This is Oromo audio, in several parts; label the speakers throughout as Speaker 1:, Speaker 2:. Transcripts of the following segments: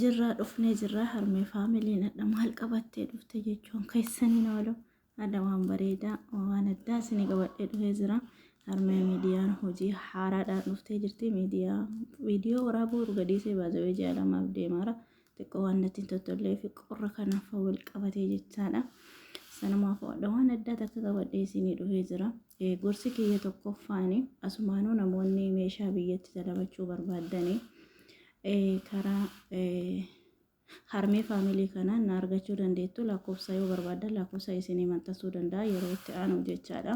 Speaker 1: Jirraa dhufnee jirraa harmee faamiliin adha maal qabattee dhufte jechuun keessaniin oolu adha waan bareedaa waan addaa isinii qabadhee dhufee jira harmee miidiyaan hojii haaraadhaan dhuftee jirti miidiyaa viidiyoo waraabuu urgadiisee baazawee ji'a lamaaf deemaara xiqqoo waan natti hin tottollee fi qorra kanaaf wal qabatee jechaadha sanumaaf adha waan addaa takka qabadhee isinii dhufee jira gorsi kiyya tokkoffaani asumaanuu namoonni meeshaa biyyatti dalabachuu barbaadanii karaa harmee faamilii kanaa na argachuu dandeettu lakkoofsa yoo barbaaddan lakkoofsa isinii maxxansuu danda'a yeroo itti aanu jechaadha.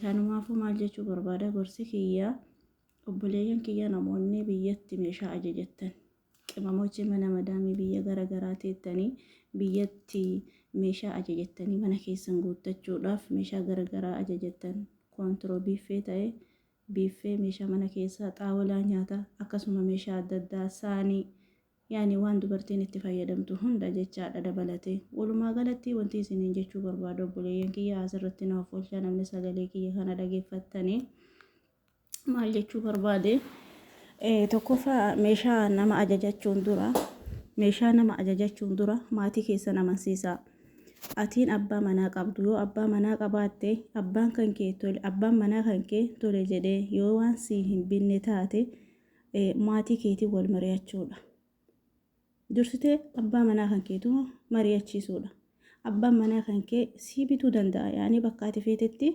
Speaker 1: Kanumaafuu maal jechuu barbaada gorsi kiyya obboleeyyan kiyya namoonni biyyatti meeshaa ajajattan qimamochi mana madaamii biyya gara garaa teettanii biyyatti meeshaa ajajattanii mana keessan guuttachuudhaaf meeshaa gara garaa ajajattan koontiroo biiffee ta'e biiffee, meeshaa mana keessaa, xaawalaa nyaataa, akkasuma meeshaa adda addaa, saanii, yaani waan dubartiin itti fayyadamtu hunda jechaadha dabalatee. Walumaa galatti wantii isiniin jechuu barbaadu obboleeyyan kiyya asirratti na offolchaa namni sagalee kiyya kana dhageeffattanii maal jechuu barbaade tokkoffaa meeshaa nama ajajachuun dura meeshaa nama ajajachuun dura maatii keessan amansiisaa. Atiin abbaa manaa qabdu yoo abbaa manaa qabaatte abbaan kan kee tole abbaan manaa kan kee tole jedhee yoo waan sii hin binne taate maatii keetiin wal mari'achuudha. Dursitee abbaa manaa kan keetu mari'achiisuudha. Abbaan manaa kan kee sii bituu danda'a yaani bakka ati feetetti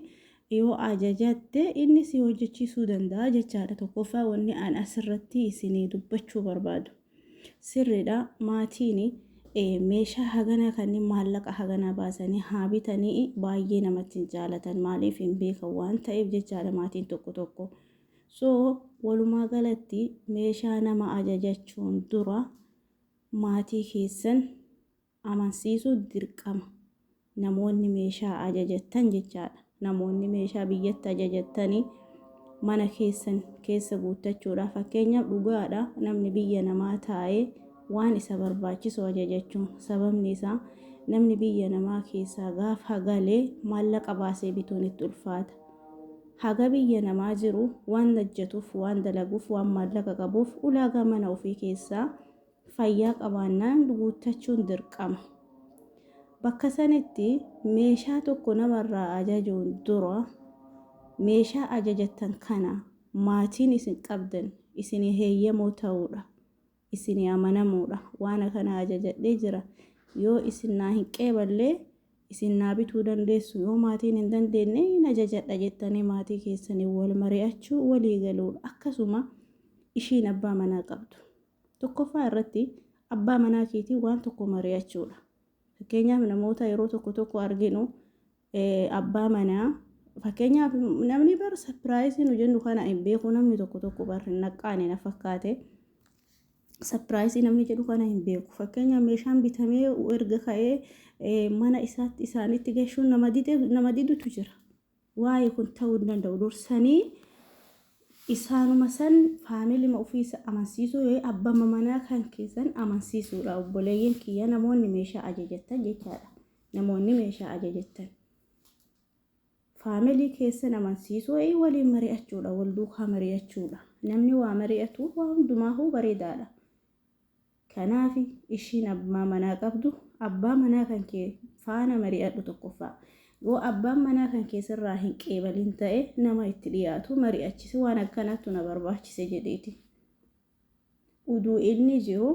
Speaker 1: yoo ajajatte inni si hojjechiisuu danda'a jechaadha. Tokkoffaa wanni an asirratti isinii dubbachuu barbaadu. Sirridha maatiini meeshaa haganaa kanniin maallaqa haganaa baasanii haa bitanii baay'ee namatti hin jaalatan maaliif hin beekan waan ta'eef jechaadha maatiin tokko tokko so walumaa galatti meeshaa nama ajajachuun dura maatii keessan amansiisuu dirqama. Namoonni meeshaa ajajattan jechaadha. Namoonni meeshaa biyyatti ajajattanii mana keessan keessa guuttachuudha. Fakkeenyaaf dhugaadha namni biyya namaa taa'ee waan isa barbaachisu ajajachuun sababni isaa namni biyya namaa keessaa gaafa galee maallaqa baasee bituun itti ulfaata. Haga biyya namaa jiru waan hojjetuuf, waan dalaguuf, waan maallaqa qabuuf ulaagaa mana ofii keessaa fayyaa qabaannaan guuttachuun dirqama. Bakka sanitti meeshaa tokko namarraa ajajuun dura meeshaa ajajattan kana maatiin isin qabdan isinii heeyyamoo ta'uudha, isinii amanamuudha, waan akana ajajadhee jira yoo isin naa hin qeeballe isin naa bituu dandeessu yoo maatiin hin dandeenne hin ajajadha jettanii maatii keessaniin wal mari'achuu walii galuudha. Akkasuma ishiin abbaa manaa qabdu. Tokkoffaa irratti abbaa manaa keetii waan tokko mari'achuudha. Fakkeenyaaf namoota yeroo tokko tokko arginu abbaa manaa fakkeenyaaf namni bar sapiraayisii nu jennu kana hin beeku namni tokko tokko bar hin naqqaane na fakkaate. Sapiraayisii namni jedhu kana hin beeku. Fakkeenyaaf meeshaan bitamee erga ka'ee mana isaatti isaanitti gashuun nama didutu jira. Wly kun ta'uu hin danda'u dursanii isaanuma san faamilima ofiisa amansiisuu yookiin abbama manaa kan keessan amansiisuudha obboleeyyan kiyya namoonni meeshaa ajajattan jechaadha namoonni meeshaa ajajattan faamilii keessan amansiisuu yookiin waliin mari'achuudha wal duukaa mari'achuudha namni waa mari'atu waa hundumaahuu bareedaadha. Kanaaf ishiin abbaa manaa qabdu abbaa manaa kan kee faana mari'adhu tokkoffaa. Yoo abbaan manaa kan kee sirraa hin qeebalin ta'e nama itti dhiyaatu mari'achisi waan akkanaattu na barbaachise jedhiiti. Uduu inni jiru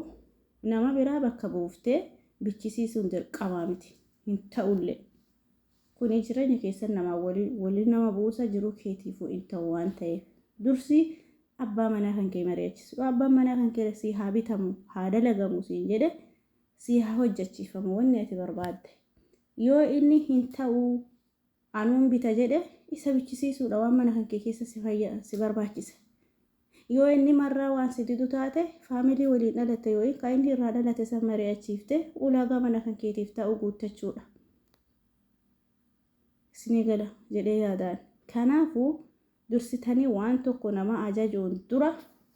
Speaker 1: nama biraa bakka buuftee bichisiisuun dirqamaa miti. Hin ta'ullee. Kuni jireenya keessan namaa waliin wali nama buusa, jiruu keetiifuu in ta'u waan ta'eef. Dursi abbaa manaa kan kee mari'achisi. Yoo abbaan manaa kan kee sii haa bitamu, haa dalagamu siin jedhe, sii haa hojjachiifamu wanni ati barbaadde. Yoo inni hin ta'u anuun bita jedhe, isa bichisiisuudha waan mana kan kee keessa si fayya, si barbaachisa. Yoo inni marraa waan si didu taate, faamilii waliin dhalatte yookiin kan inni irraa dhalate san mari'achiiftee ulaagaa mana kan keetiif taa'u guuttachuudha. Isinii gala jedhee yaada ani. Kanaafu dursitanii waan tokko nama ajajuun dura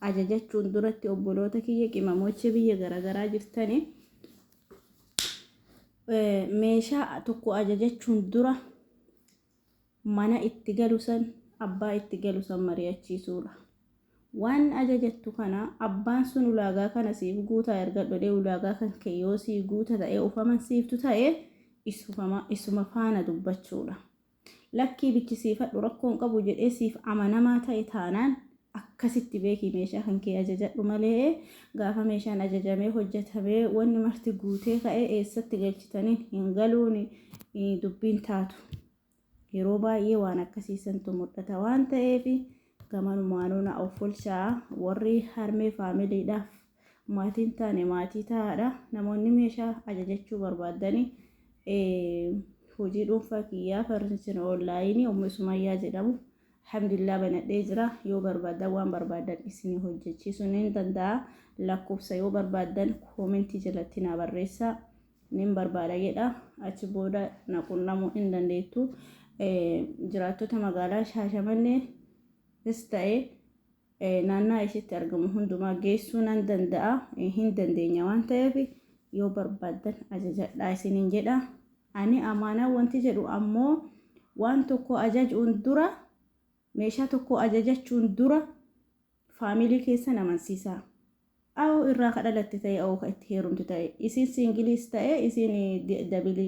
Speaker 1: ajajachuun duratti obboloota kiyya qimamochee biyya garagaraa jirtanii meeshaa tokko ajajachuun dura mana itti galu san abbaa itti galu san mari'achiisuudha. Waan ajajattu kana abbaan sun ulaagaa kana siif guutaa ergadhu jedhee ulaagaa kan kee yoo sii guuta ta'ee of amansiiftu ta'e isuma faana dubbachuudha. Lakkii bichisiifadhu rakkoo hin qabu jedhee siif amanamaa ta'e taanaan akkasitti beeki meeshaa kan kee ajajadhu malee gaafa meeshaan ajajamee hojjetamee wanni marti guutee ka'ee eessatti galchitaniin hin galuun dubbiin taatu yeroo baay'ee waan akkasii santu mul'ata waan ta'eef gamanumaanuu na offolchaa warri harmee faamiliidhaaf maatiin taane maatii taa'aadha namoonni meeshaa ajajachuu barbaaddanii hojii dhuunfaa kiyyaa farnichina oonlaayinii ummi sumayyaa jedhamu Alhamdulillah banadhee jira yoo barbaadan waan barbaadan isinii hojjechiisu nin danda'a lakkoofsa yoo barbaadan koomentii jalatti naa barreessa nin barbaada jedha achi booda na qunnamuu hin dandeettu jiraattota magaalaa shaashamannee is ta'e naannaa ishiitti argamu hundumaa geessuu nan danda'a hin dandeenya waan ta'eef yoo barbaaddan ajajadhaa isiniin jedha ani amaanaa wanti jedhu ammoo waan tokko ajajuun dura meeshaa tokko ajajachuun dura faamilii keessan amansiisaa Awo irraa ka dhalatte ta'ee awo ka itti heerumte ta'e isiin siingiliis ta'ee isiin dabilii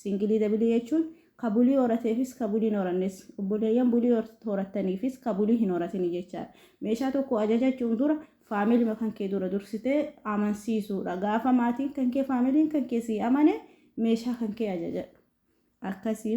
Speaker 1: siingilii dabilii jechuun ka bulii horateefis ka bulii hin horannes obboleeyyan bulii horattaniifis ka bulii hin horatini jechaadha. Meeshaa tokko ajajachuun dura faamilima kankee dura dursitee amansiisuudha. Gaafa maatiin kankee faamiliin kankee sii amane meeshaa kankee ajajadhu. akkasii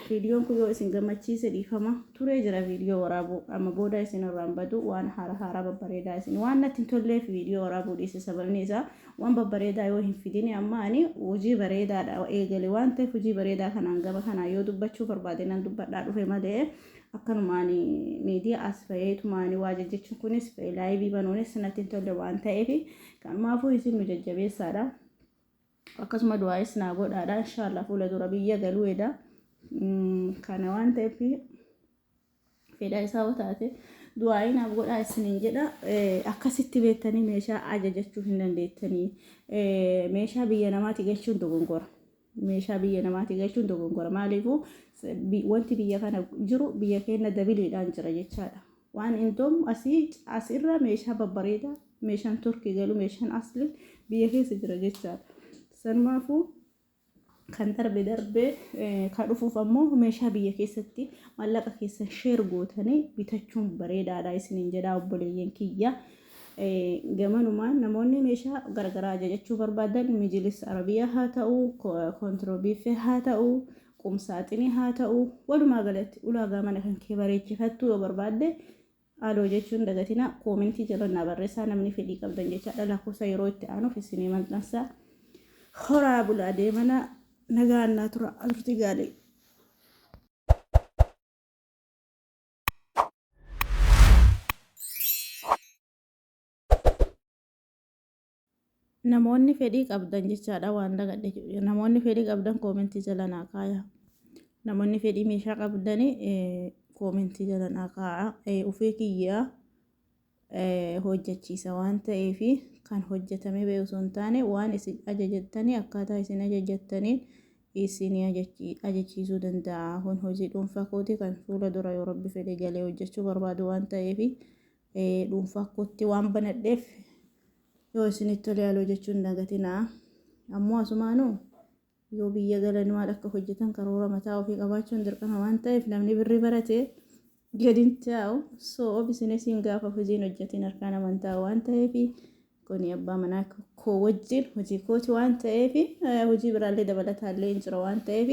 Speaker 1: viidiyoon kun yoo isin gammachiise dhiifama turee jira viidiyoo waraabuu amma booda isin irraan badu waan haara haaraa babbareedaa isin waan natti hin tolleef viidiyoo waraabuu dhiise sababni isaa waan babbareedaa yoo hin fidine amma ani hojii bareedaadha eegale waan ta'eef hojii bareedaa kanaan gama kanaan yoo dubbachuu barbaade nan dubbadhaa dhufe malee akkanumaan miidiyaa as fayyitumaan waa jajjachuun kunis laayivii banuunis natti hin tolle waan ta'eef kanumaafuu isin nu jajjabeessaadha. Akkasuma du'aayis naa godhaadha inshaallaa fuula dura biyya galuu eda kana waan ta'eef fedha isaa yoo taate du'aayii naaf godhaa isiniin jedha akkasitti beektanii meeshaa ajajachuu hin dandeettanii meeshaa biyya namaati galchuun dogongora meeshaa biyya namaati galchuun dogongora maaliifuu wanti biyya kana jiru biyya keenya dabiliidhaan jira jechaadha. Waan Indom asi as irra meeshaa babbareeda meeshaan Turkey galu meeshaan asli biyya keessa jira jechaadha. Sanumaafu kan darbe darbee kan dhufuuf ammoo meeshaa biyya keessatti mallaqa keessan sheer gootanii bitachuun bareedaadha isiniin jedhaa obboleeyyan kiyya. Gamanumaan namoonni meeshaa garagaraa ajajachuu barbaadan mijilis arabiyaa haa ta'u, kontiroobiiffee haa ta'u, qumsaaxinii haa ta'u, walumaa galatti ulaagaa mana kan kee bareechifattuu yoo barbaadde Aloo jechuu hin dagatinaa koomentii jala naa barreessaa namni fedhii qabdan jechaadha lakkoofsa yeroo itti aanuuf isinii maxxansa. Horaa bulaa deemana nagaan naa tura alurti gaalee. Namoonni fedhii qabdan jechaadha waan dagadhe namoonni fedhii qabdan koomentii jala naa kaaya namoonni fedhii meeshaa qabdani koomentii jala naa kaaya ufee kiyyaa hojjechiisa waan ta'eef kan hojjetamee ba'e osoo hin taane waan isin ajajattanii akkaataa isin ajajattanii isin ajachiisuu danda'a kun hojii dhuunfaa kooti kan fuula dura yoo rabbi fedhe galee hojjechuu barbaadu waan ta'eef dhuunfaa kootti waan banadheef yoo isinitti tole haaloo jechuun dagatinaa ammoo asumaanuu yoo biyya galan maal akka hojjetan karoora mataa ofii qabaachuun dirqama waan ta'eef namni birri barate gadin taa'u so obisinees hin gaafa hojiin hojjetiin harkaan amantaa waan ta'eef Kuni abbaa manaa koo wajjin hojii kooti waan ta'eef hojii biraallee dabalataallee hin jira waan ta'eef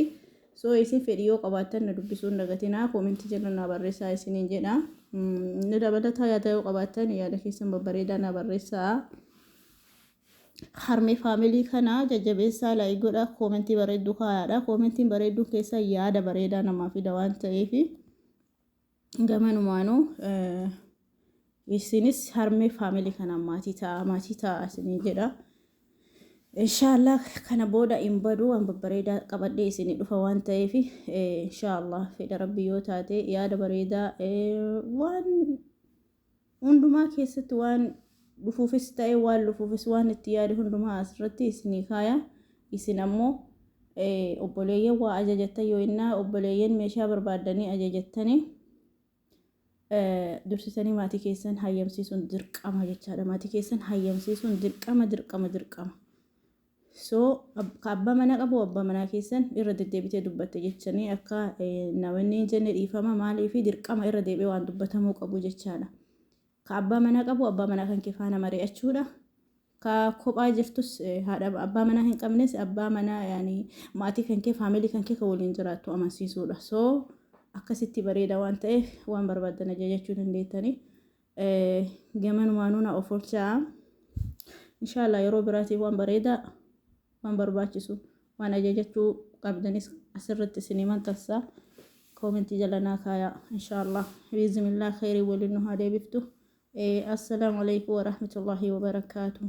Speaker 1: soo isin fedhii yoo qabaattan na dubbisuun dagatinaa koomentii jala naa barreessaa isiniin jedha. Inni dabalataa yaada yoo qabaattan yaada keessan babbareedaa naa barreessaa. Harmee faamilii kana jajjabeessaa laayii godha koomentii bareedduu kaayaadha. Koomentiin bareedduun keessa yaada bareedaa namaa fida waan ta'eef. gamanumaanuu isinis harmee faamilii kanaan maatii ta'a maatii ta'a isinii jedha. Inshaallah kana booda hin badu waan babbareedaa qabadhee isinii dhufa waan ta'eef inshaallah fedha rabbii yoo taate yaada bareedaa waan Hundumaa keessatti waan dhufuufis ta'e waan lufuufis waan itti yaade hundumaa asirratti isinii kaaya. Isin ammoo obboleeyyan waa ajajattan yoo innaa obboleeyyan meeshaa barbaaddanii ajajattanii dursitanii maatii keessan hayyamsiisuun dirqama jechaadha. Maatii keessan hayyamsiisuun dirqama dirqama dirqama. So ka abba mana qabu abba manaa keessan irra deddeebitee dubbatte jechanii akka na wanni hin jenne dhiifama maalii fi dirqama irra deebi'ee waan dubbatamuu qabu jechaadha. Ka abba mana qabu abba manaa kan kee faana mari'achuudha. Ka kophaa jirtus haadha abbaa manaa hin qabnes abbaa manaa yaani maatii kan kee faamilii kan kee kan waliin jiraattu amansiisuudha. So akkasitti bareeda waan ta'eef waan barbaaddan ajajachuu dandeettanii. gamanumaanuu na of olchaa inshaallah yeroo biraatiif waan bareedaa waan barbaachisu waan ajajachuu qabdanis asirratti isin himan tassaa koomentii jala naa kaayaa inshaallah biizimillaa kheyrii waliin nu haa deebiftu assalaamu alaikum warahmatullaahi wabarakaatuh